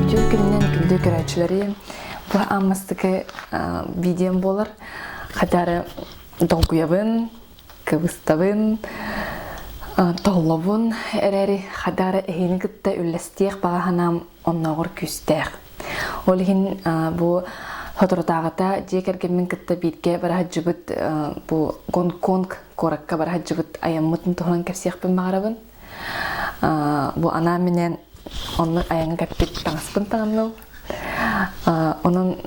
Үтүө күнүнэн күндү көрөөччүлэри бу ааммастыкы видеом буолар хотары долгуйабын кыбыстабын толлобун эрэри хадары эһини кытта үллэстиэх баҕаһанаам оннооҕор күүстээх ол иһин бу соторутааҕыта дьиэ кэргэммин кытта бииргэ бараһыддьыбыт бу гонконг куоракка бара сылдьыбыт айаммытын туһунан кэпсиэхпин баҕарабын бу анаан минэн онну айаҥҥа кэппит таҥаспын таҥынным онон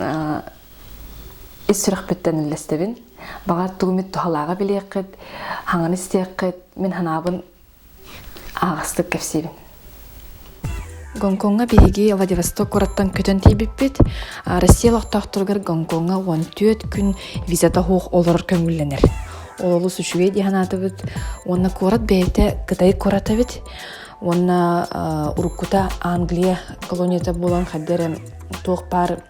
ис сүрэхпиттэн үллэстэбин баҕар тугу эмит туһалааҕы билиэххит хаҥан истиэххит мин санаабын аҕастык кэпсиибин Гонкоҥҥа биһиги Владивосток кураттан көтөн тиийбиппит. Россия олохтоохторугар Гонкоҥҥа 14 күн визата суох олорор көҥүллэнэр. Олус үчүгэй дии санаатыбыт. Уонна куорат бэйэтэ Кытай курата эбит. Уонна уруккута Англия колонията буолан хайда эрэ туох баар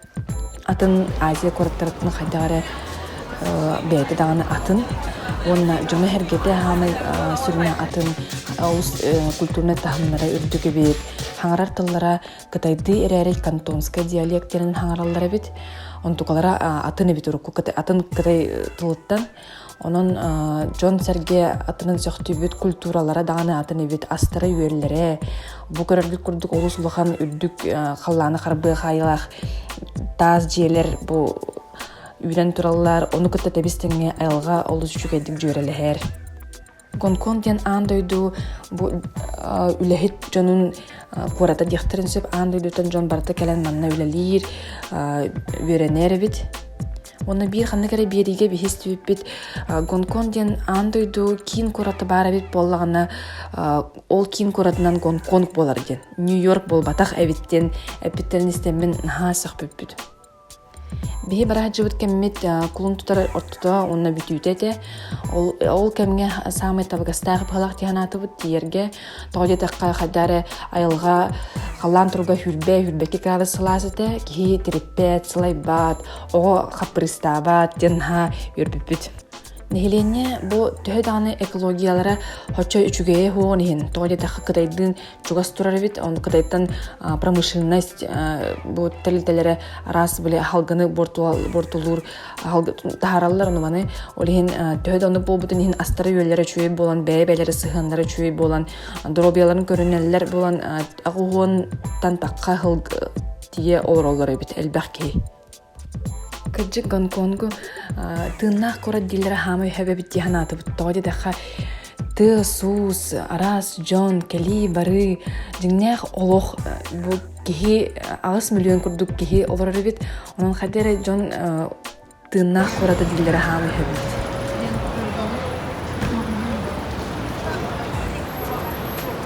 атын Азия куораттарыттан хайдах эрэ бэйэтэ даҕаны атын уонна дьоно-сэргэтэ саамай сүрүнэ атын олус культурнай таһымнара үрдүк эбит хаҥарар тыллара кытайдыы эрээри кантонскай диалектэрин хаҥараллар эбит онтукалара атын эбит урукку атын кытай тылыттан Онон дьон-сэргэ атынын сөхтүүбүт культуралара даҕаны атын эбит астара-үөллэрэ бу көрөргүт курдук олус улахан үрдүк халлааны харбыа хаайыылаах таас дьиэлэр бу үүнэн тураллар ону кытта тэбис тэҥҥэ айылҕа олус үчүгэйдик дьүөрэлэһэр Гонконг диэн аан дойду бу үлэһит дьонун куората диэхтэрин сөп аан дойдуттан дьон барыта кэлэн манна үлэлиир, үөрэнэр эбит. Уонна биир ханнык эрэ биэриигэ биһистибиппит Гонконг диэн аан дойду киин куораты баар эбит буоллаҕына ол киин куоратынан Гонконг буолар диэн Нью-Йорк буолбатах эбит диэн эппиттэрин истэммин наһаа сөхпүппүт. Биһи бараһаччыбыт кэммит кулун тутар ортото уонна бүтүүтэ этэ. Ол ол кэмҥэ саамай табыгастаах быһалаах дии санаатыбыт. Тиийэргэ тоҕо диэтэххэ хайдах эрэ айылҕа халлаан туруга үүрбэ үүрбэкки градус сылаас этэ. Киһи тириппэт, сылайбат, оҕо хаппырыыстаабат диэн наһаа үөрбүппүт. Нэһилиэнньэ бу төһө даҕаны экологиялара оччо үчүгэйэ суоҕун иһин тоҕо диэтэххэ кытайдыын чугас турар эбит он кытайтан промышленность бу тэрилтэлэрэ араас били аһалганы бортулуур таһаараллар ону маны ол иһин төһө да оннук буолбутун иһин астара үөллэрэ үчүгэй буолан бэйэ бэлэрэ сыһыаннара үчүгэй буолан доруобуйаларын көрүнэллэр буолан аҕыһуонтан тахха тиийэ олороллор эбит элбэх киһи Кырдьык, Гонконгу тыыннаах куорат дииллэрэ хаама үһэ эбит дии санаатыбыт. Тоҕо диэтэххэ, тыас-уус, араас дьон, кэлии-барыы, дьиҥнээх олох бу киһи аҕыс миллион курдук киһи олорор эбит. Онон хайда эрэ дьон тыыннаах куората дииллэрэ хаама үһэ эбит.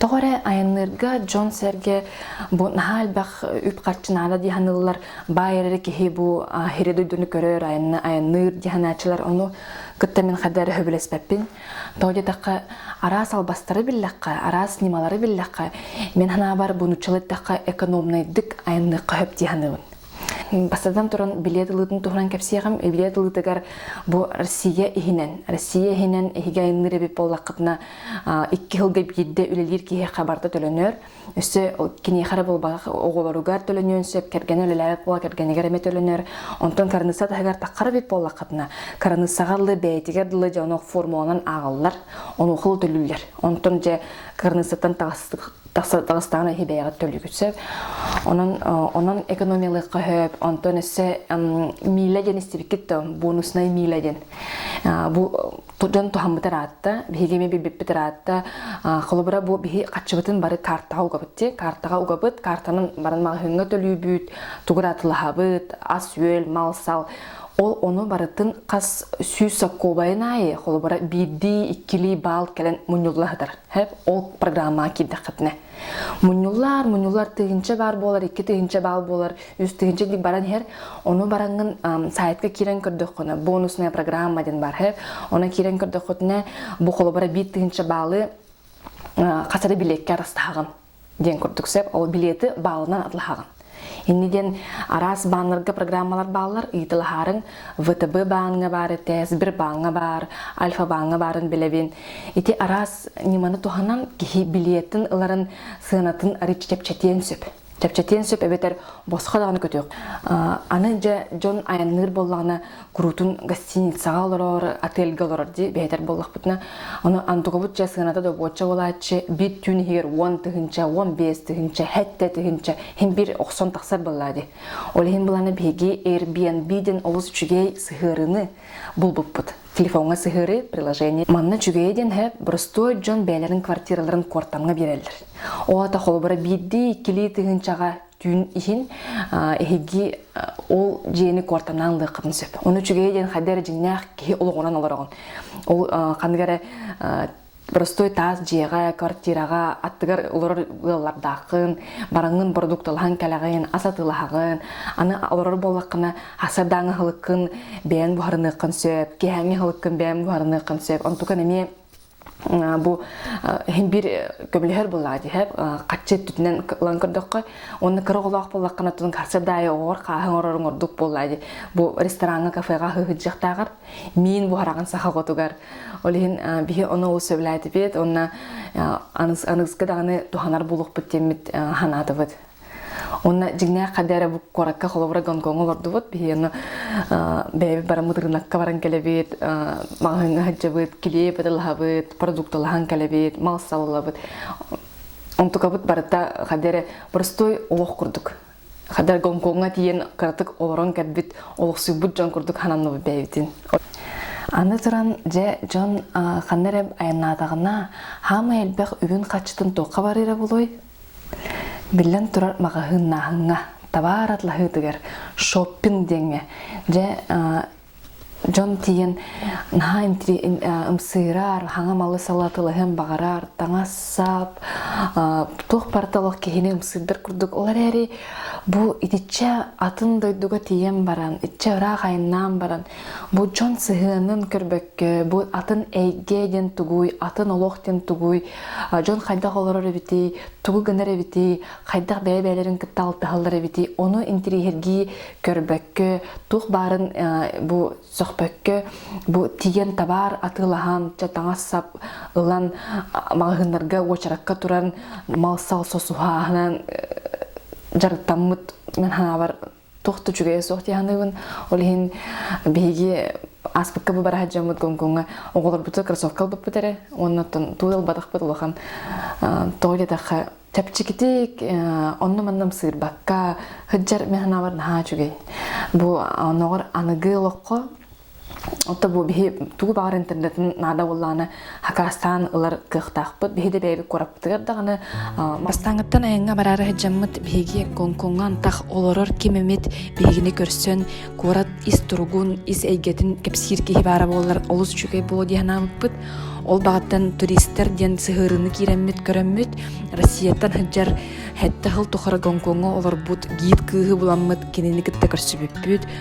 Тоҕо эрэ айанныырга дьон-сэргэ бу наһаа элбэх үп-харчы наада дии саныыллар. Баай эрэ киһи бу аһири дойдуну көрөр, айанныыр дии санааччылар. Ону кытта мин хайдах эрэ сөбүлэспэппин. Тоҕо диэтэххэ, араас албастары биллэххэ, араас ньымалары биллэххэ, мин санаабар бу нуччалыы эттэххэ экономнайдык айанныахха сөп дии саныыбын. Бастатан туран, билиэт ылыытын туһунан кэпсиэҕим. Билиэт ылыытыгар бу Россия иһинэн, Россия иһинэн иһиги айанныыр эбит буоллаххытына, икки сылга биирдэ үлэлиир киһиэхэ барыта төлөнөр. Өссө киниэхэ эрэ булбах оҕолоругар төлөнүөн сөп, кэргэн өлөлөөх буола кэргэнигэр эмэ төлөнөр. Онтон кырынысса таһыгар таххара бит буоллаххытына, кырыныссаҕа ыллы бэйэтигэр дылы дьоно формуланан ааҕаллар, онуоха төлүүллэр. Онтон дьэ кырыныссаттан тахыстаҕына иһи бэйэҕэ төлүгүт сөп. Онон онон экономиялыахха хөп. Онтон өссө миилэ диэн истибиккит да бонуснай миилэ диэн. Бу дьон туһаммыт ыраатта, биһиги эмиэ билбиппит ыраатта. Холобура бу биһи хаччыбытын бары каартаҕа угабыт дии. Каартаҕа угабыт, каартанан баран маҕаһыыҥҥа төлүүбүт, тугу ыраатылаһабыт, ас-үөл, мал-сал. Ол ону барытын хас сүүс сокуобайын аайы, холобура, биирдии, иккилии баал кэлэн мунньулла сытар. Ол программаҕа киирдэххитинэ. Мунньуллар, мунньуллар тыһыынча баар буолар, икки тыһыынча баал буолар, үс тыһыынча дии баран иһэр. Ону бараҥҥын сайтка киирэн көрдөххүнэ, бонусная программа диэн бар иһэр. Оны киирэн көрдөххүтүнэ, бу холобура биир тыһыынча баалы хасары билиэккэ арастаһаҕын диэн курдук сөп. Ол билеты баалынан атлаһаҕын. Инни диэн араас бааннарга программалар бааллар. Ыытылаһаарыҥ ВТБ бааҥҥа баар этэ, Сбер бааҥҥа баар, Альфа бааҥҥа баарын билэбин. Ити араас ньыманы туһанан киһи билиэтин ыларын, сыанатын арыычча чэпчэтиэн сөп. Чэпчэтиэн сөп эбэтэр босхо даҕаны көтүөх. Аны дьэ дьон айанныыр буоллаҕына куруутун гостиницаҕа олорор, отельгэ олорор дии бэйэтэр буоллахпытына, ону андугабыт чэ сыаната добуочча буолааччы, бит түүн иһигэр уон тыһыынча, уон биэс тыһыынча, һэттэ тыһыынча, иһин бир охсон тахсар быллаа дии. Ол иһин былана биһиги Airbnb-ден олус үчүгэй сыһыарыны булбуппут. Телефоҥҥа сыһыары, приложение. Манна үчүгэйэ диэн һэ простой дьон бэйэлэрин квартираларын куортамҥа биэрэллэр. Оата холобура биирдии-иккилии тыһыынчаҕа түүн иһин эһиги ол дьиэни куортамнаан ылыаххытын сөп. Ону үчүгэйи диэн хайда эрэ дьиҥнээх киһи олоҕуран олороҕун. Ол ханнык эрэ простой таас дьиэҕэ, квартираҕа аттыгар олорор ыаллардааххын, бараҥҥын продукталаһан кэлэҕин, ас атыылаһаҕын, аны олорор буоллаххына асардааҥ аһылыккын бэйэҥ буһарыныаххын сөп, киэһээҥҥи аһылыккын бэйэҥ буһарыныаххын сөп. Онтукан эмиэ бу иһин бир көмөлөһөр буллаат иһэ хаччы өттүтүнэн ылан көрдөххө онно кыра олоох буллаххына тутун харсар даайа оҕор хааһын орорун ордук буллаат бу рестораҥҥа кафеға хыһыджахтааҕар миин буһарагын сахаҕотугар ол иһин биһи ону ол сөбүлээтипет онна аныгыскы даҕаны туһанар булукпут тиммит ханатыбыт Онна дьиҥнээх хадэ эрэ куоракка холобура Гонкоҥу олордубут. Биһи ону бэйэбит бараммыт ырынакка баран кэлэбит, маҕаһыыҥҥа сылдьабыт, килиэйи пыталаһабыт, продукталаһан кэлэбит, мал саллабыт. Онтукабыт барыта хадэ эрэ простой олох курдук. Хадэр Гонкоҥҥа тиийэн кыратык олорон кэлбит, олохсуйбут дьон курдук хананныбыт бэйэбитин. Аны туран, дьэ, дьон ханна эрэ айаннаатаҕына, хаамай элбэх үгүн хаччытын туохха барыыра булуой? Биллэн турар маҕаһыыннааһыҥҥа, табаар атлаһыытыгар, шоппинг диэҥҥэ, дьэ дьон тиийэн наһаа ымсыырар, хаҥа-малы салатылаһыан баҕарар, таҥас-сап, туох порталах киһини ымсыырдар курдук. Ол эрээри бу итиччэ атын дойдуга тиийэн баран, итиччэ ыраах айаннаан баран, бу дьон сыһыанын көрбөккө, бу атын эйгэ диэн тугуй, атын олох диэн тугуй, дьон хайдах олорор эбитий тугу гынар эбитий хайдах бэйэ бэйэлэрин кытта алтыһаллар эбитий ону интириэһиргии көрбөккө туох баарын бу сөхпөккө бу тиийэн табаар атыылаһан таҥас-сап ылан маҕаһыыннарга уочаракка туран мал-сал сосуһааһынан дьарыктаммыт мен санаабар тохту үчүгэйэ суох тиһаныыбын ол иһин биһиги ааспыкка бу бара сылдьаммыт гонкоҥҥа оҕолорбуту кроссовка ылбыппыт эрэ уоннаттан туу ылбатахпыт улахан тоҕо диэтэххэ чэпчэкитик онну-манна ымсыырбакка сыддьар механалар наһаа үчүгэй бу оноҕор аныгы олоххо Отто бу биһи тугу баҕар интернетин наада боллаана хакастаан ылар кыахтаахпыт. Биһи да бэйэбит кураптыгар даҕаны бастаангыттан айанга бараары хадьаммыт биһиги Гонкоҥҥа антах олорор ким эмит биһигини көрсөн куорат ис туругун, ис эйгэтин кэпсиир киһи баара буоллар олус үчүгэй буолуо дии санаабыппыт. Ол баҕаттан туристар диэн сыһыарыыны киирэммит көрөммүт Россияттан сылдьар хэттэ сыл тухары Гонкоҥҥа олорбут гид кыыһы буламмыт кинини кытта көрсүбүппүт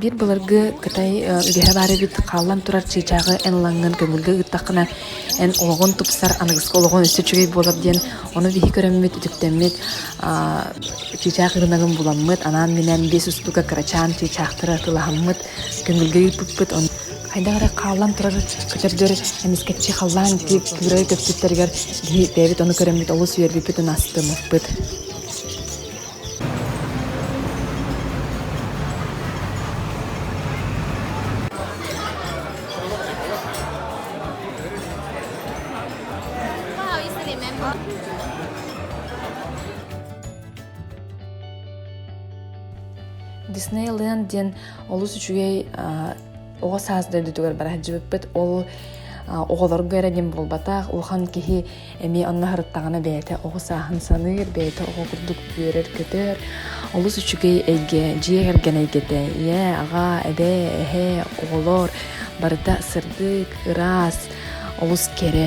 Биир былыргы Кытай үгэһэ баар эбит хаалан турар чыычааҕы эн ылаҥҥын көҥүлгэ ыыттаххына эн олоҕун тупсар аныгыскы олоҕун өссө үчүгэй буолар диэн ону биһи көрөммүт үтүктэммит чыычаах ырынагын буламмыт анаан-минээн биэс устуука кырачаан чыычаахтары атылаһаммыт көҥүлгэ ыыппыппыт хайдах эрэ хааллан турар көтөрдөр эмискэччи халлаан ити кыырайы көппүттэригэр киһи бэйэбит ону көрөммүт олус үөрбүппүт ын астымыппыт Диснейленд диэн олус үчүгэй оҕо саас дойдутугар бара сылдьыбыппыт. Ол оҕолорго эрэ дим буолбатах, улахан киһи эмиэ онно сырыттаҕына бэйэтэ оҕо сааһын саныыр, бэйэтэ оҕо курдук үөрэр-көтөр. Олус үчүгэй эйгэ, дьиэ кэргэн эйгэтэ. Ийэ, аҕа, эбэ, эһэ, оҕолор барыта сырдык, ыраас, олус кэрэ.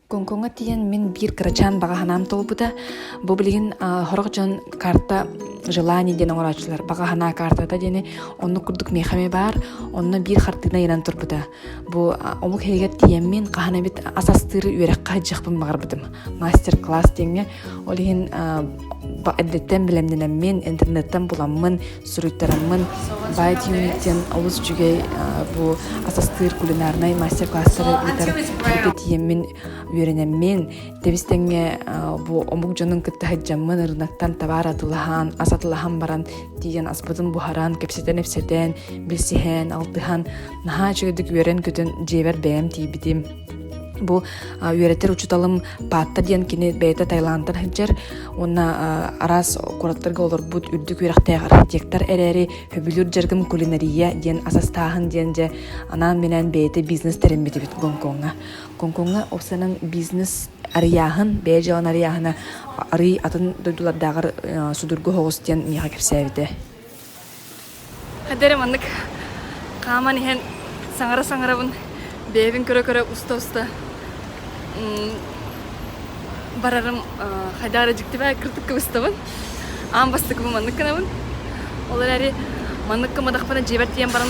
Гонкоҥҥа тиийэн мин биир кырачаан баҕа санаам толбута. Бу билигин сорох дьон карта желаний диэн оҥорооччулар баҕа санаа картата диэни оннук курдук миэхэ эмэ баар онно биир хартыына айанан турбута бу омук иһигэр тиийэммин хаһан эбит ас астыыры үөрэххэ садьыахпын баҕарбытым мастер класс диэҥҥэ ол иһин эдиттэн билэмнэнэммин интернеттан буламмын суруйтараммын Бай диэн олус үчүгэй бу асастыыр кулинарнай мастер-класстары ыытар тиийэммин үөрэнэммин тэбистэҥҥэ бу омук дьонун кытта сылдьаммын ырынактан табаар атылаһан ас атылаһан баран тиийэн аспытын буһаран кэпсэтэн-ипсэтэн билсиһэн алтыһан наһаа үчүгэйдик үөрэн-көтөн дьиэбэр бэйэм тиийбитим бу үөрэтэр учуталым паатта диэн кини бэйэтэ таиландтан сылдьар Уонна араас куораттарга олорбут үрдүк үөрэхтээх архитектор эрээри Хөбүлүүр дьарыгым кулинария диэн ас астааһын диэн дьэ анаан-минээн бэйэтэ бизнес тэрэммит эбит Гонкоҥҥа. Гонкоҥҥа ол санаан бизнес арыйааһын, бэйэ дьыаланы арыйааһына арый атын дойдулардааҕар судургу соҕус диэн миэхэ кэпсээбитэ. Эдэрэ маннык хааман иһэн саҥара-саҥарабын бэйэбин көрө-көрө уста-уста барарым хайдах эрэ дьиктибэ кыртык кыбыстабын аан бастакыбын маннык гынабын ол эрээри маннык гымматахпына дьиэбэр тиийэн баран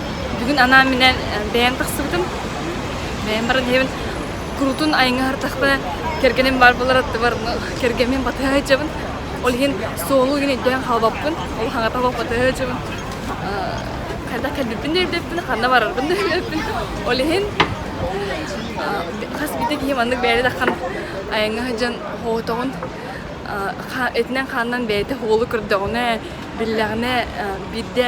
Бүгүн анаан минэн бэйэм тахсыбытым. Бэйэм баран иһэбин курутун айыңа һартахпына кэргэним баар болар аттыбар кэргэмим батыһа һычабын. Ол иһин суолу үгүн өйдөөн халбаппын. Ол хаҥата батыһа һычабын. Хайда кэлбиппин да билбиппин, ханна барарбын да билбиппин. Ол иһин хас биирдэ киһи маннык бэйэри тахан айыңа һыдьан хоотоҕун этинэн хаанынан бэйэтэ хуолу көрдөҕүнэ, биллэҕинэ биирдэ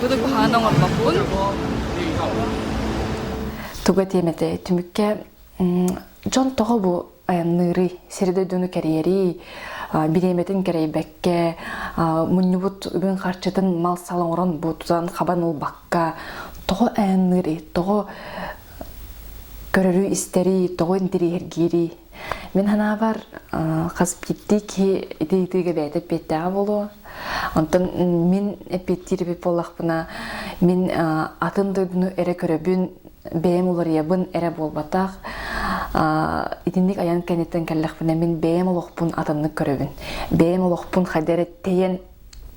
Бүгүн куһаҕан оҥорбоппун. Туга тиэмэтэ түмүккэ дьон тоҕо бу айанныырый сири-дойдуну кэрийэрий бириэмэтин кэрэйбэккэ мунньубут үбүн харчытын мал-сал оҥорон бу тутан хабан ылбакка тоҕо айанныырый тоҕо көрөрүй истэрий тоҕо интэриэһиргиирий Мин ханаабар хас киттии киһи ити ыйтыыга бэйэтэ эппиэттээҕэ буолуо. Онтон мин эппиэттиир эбит буоллахпына, мин атын дойдуну эрэ көрөбүн, бэйэм уларыйабын эрэ буолбатах. Итинник айан кэнниттэн кэллэхпинэ, мин бэйэм олохпун атыннык көрөбүн. Бэйэм олохпун хайда эрэ тэйэн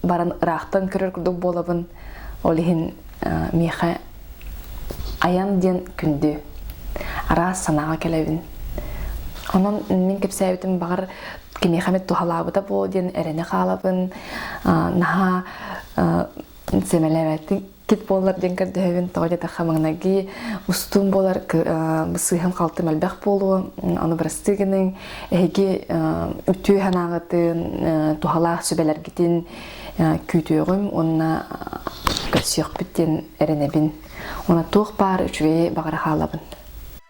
баран ыраахтан көрөр курдук буолабын ол иһин миэхэ айан диэн күндү араас санааҕа кэлэбин онон мин кэпсээбитим баҕар кимиэхэ эмит туһалаабыта буол диэн эрэнэ хаалабын наһаа сэмэлээбэттик тик буоллар диэн көрдөһөбүн тоҕо диэтахха маҥнайгы устуум буолар сыыһам халтым элбэх буолуо аны бырастыы гыныҥ эһиги үтүө санааҕытын туһалаах сүбэлэргитин күүтүөҕүм уонна көрсүөхпүт диэн эрэнэбин уонна туох баар үчүгэйи баҕара хаалабын